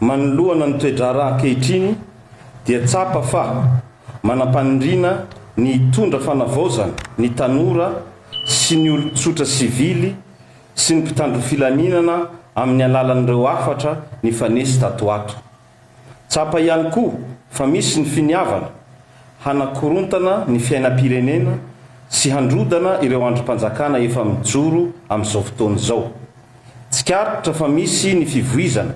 Manoloana ny toe-draharaha ankehitriny dia tsapa fa manam-paniriana ny hitondra fanavaozana ny tanora sy ny olon-tsotra sivily sy ny mpitandro filaminana amin'ny alalan'ireo hafatra nifanesy tato ho ato. Tsapa ihany koa fa misy ny finiavana hanakorontana ny fiainam-pirenena sy handrodana ireo andrim-panjakana efa mijoro amin'izao fotoana izao. Tsikaritra fa misy ny fivoizana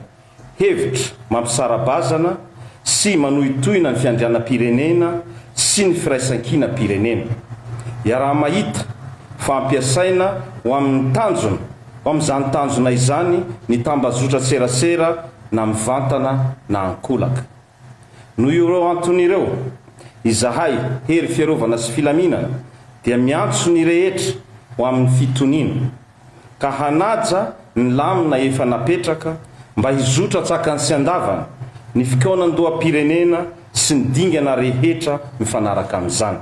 hevitra mampisara-bazana sy manohitohina ny fiandrianam-pirenena sy ny firaisankinam-pirenena. Iaraha-mahita fa ampiasaina ho amin'ny tanjona Ao amin'izany tanjona izany ny tambazotran-tserasera na mivantana na ankolaka. Noho ireo antony ireo, izahay, Hery Fiarovana sy Filaminana, dia miantso ny rehetra ho amin'ny fitoniana, ka hanaja ny lamina efa napetraka mba hizotra an-tsakany sy an-davany ny fikaonandoham-pirenena sy ny dingana rehetra mifanaraka amin'izany.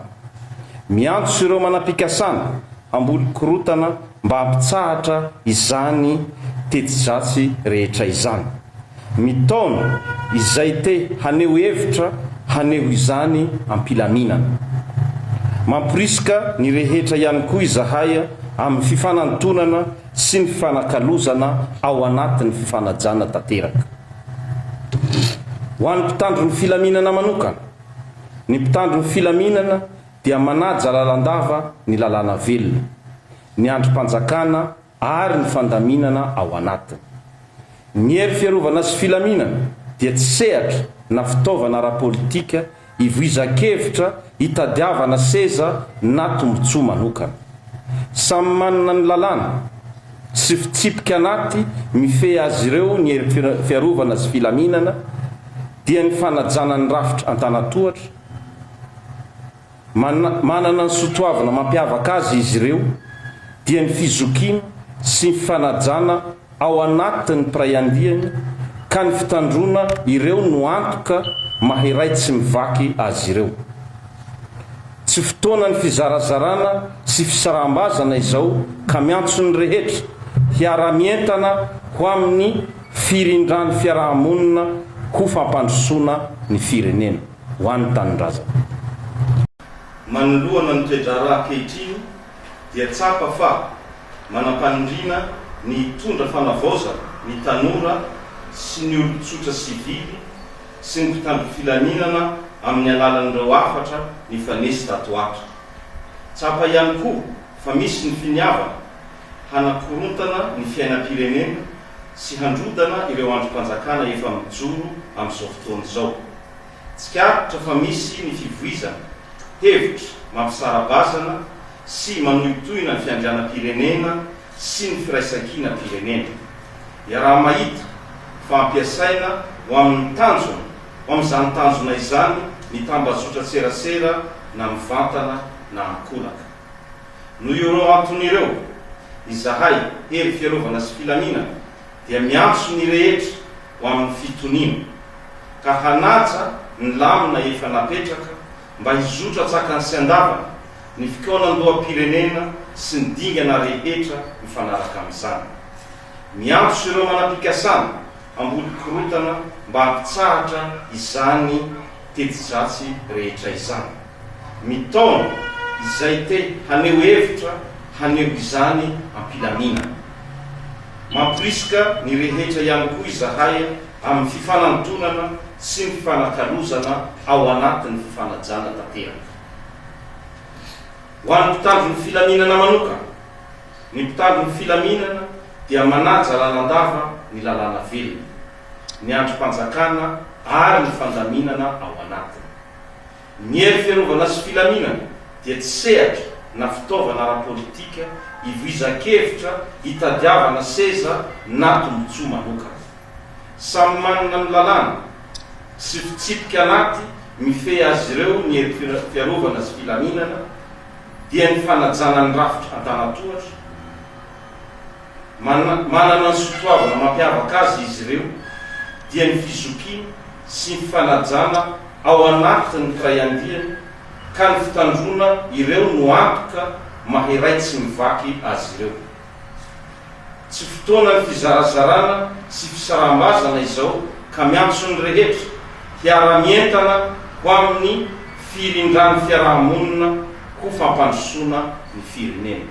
Miantso ireo manam-pikasana hamboly korotana mba hampitsahatra izany teti-dratsy rehetra izany. Mitaona izay te haneho hevitra haneho izany am-pilaminana. Mamporisika ny rehetra ihany koa izahay amin'ny fifanantonana sy ny fifanakalozana ao anatin'ny fifanajana tanteraka. Ho an'ny mpitandro ny filaminana manokana, ny mpitandro ny filaminana dia manaja lalandava ny lalàna velona, ny andrim-panjakana ary ny fandaminana ao anatiny. Ny hery fiarovana sy filaminana dia tsy sehatra na fitaovana ara-politika Ivoizan-kevitra hitadiavana seza na tombontsoa manokana. Samy manana ny lalàna sy fitsipika anaty mifehy azy ireo ny hery fiarovana sy filaminana dia ny fanajana ny rafitra an-tanatohatra, manana ny sotoavina mampiavaka azy izy ireo dia ny fizokiana sy ny fanajana ao anatin'ny mpiray andiany ka ny fitandroana ireo no antoka maha iray tsy mivaky azy ireo. Tsy fotoanan'ny fizarazarana sy fisaraham-bazana izao ka miantso ny rehetra hiara-mientana ho amin'ny firindran'ny fiaraha-monina ho fampandrosoana ny firenena, ho an'ny tanindrazana. Manoloana ny toe-draharaha ankehitriny, dia tsapa fa manam-paniriana ny hitondra fanavaozana ny tanora sy ny olon-tsotra sivily sy ny mpitandro filaminana amin'ny alalan'ireo hafatra nifanesy tato ho ato. Tsapa ihany koa fa misy ny finiavana hanakorontana ny fiainam-pirenena sy handrodana ireo andrim-panjakana efa mijoro amin'izao fotoana izao. Tsikaritra fa misy ny fivoizana hevitra mampisara-bazana sy manohitohina ny fiandrianam-pirenena sy ny firaisankinam-pirenena. Iaraha-mahita fa ampiasaina ho amin'ny tanjona, ho amin'izany tanjona izany ny tambajotran-tserasera na mivantana na ankolaka. Noho ireo antony ireo, izahay, Hery Fiarovana sy Filaminana, dia miantso ny rehetra ho amin'ny fitoniana, ka hanaja ny lamina efa napetraka mba hizotra tsakany sy andavany ny fikaonandoham-pirenena sy ny dingana rehetra mifanaraka amin'izany. Miantso ireo manam-pikasana hamboly korotana mba hampitsahatra izany teti-dratsy rehetra izany. Mitaona izay te haneho hevitra haneho izany am-pilaminana. Mampirisika ny rehetra ihany koa izahay amin'ny fifanantonana sy ny fifanakalozana ao anatin'ny fifanajana tanteraka. Ho an'ny mpitandro ny filaminana manokana, ny mpitandro ny filaminana dia manaja lalandava ny lalàna velona, ny andrim-panjakana ary ny fandaminana ao anatiny. Ny hery fiarovana sy filaminana dia tsy sehatra na fitaovana ara-politika ivoizan-kevitra hitadiavana seza na tombontsoa manokana. Samy manana ny lalàna sy fitsipika anaty mifehy azy ireo ny hery fiarovana sy filaminana dia ny fanajana ny rafitra an-tanatohatra, Manana ny sotoavina mampiavaka azy izy ireo, dia ny fizokiany sy ny fanajana ao anatin' ny firaiandiany, ka ny fitandroana ireo no antoka maha iray tsy mivaky azy ireo. Tsy fotoanan' ny fizarazarana sy fisaraham-bazana izao, ka miantso ny rehetra hiara-mientana ho amin' ny firindran' ny fiaraha-monina ho fampandrosoana ny firenena.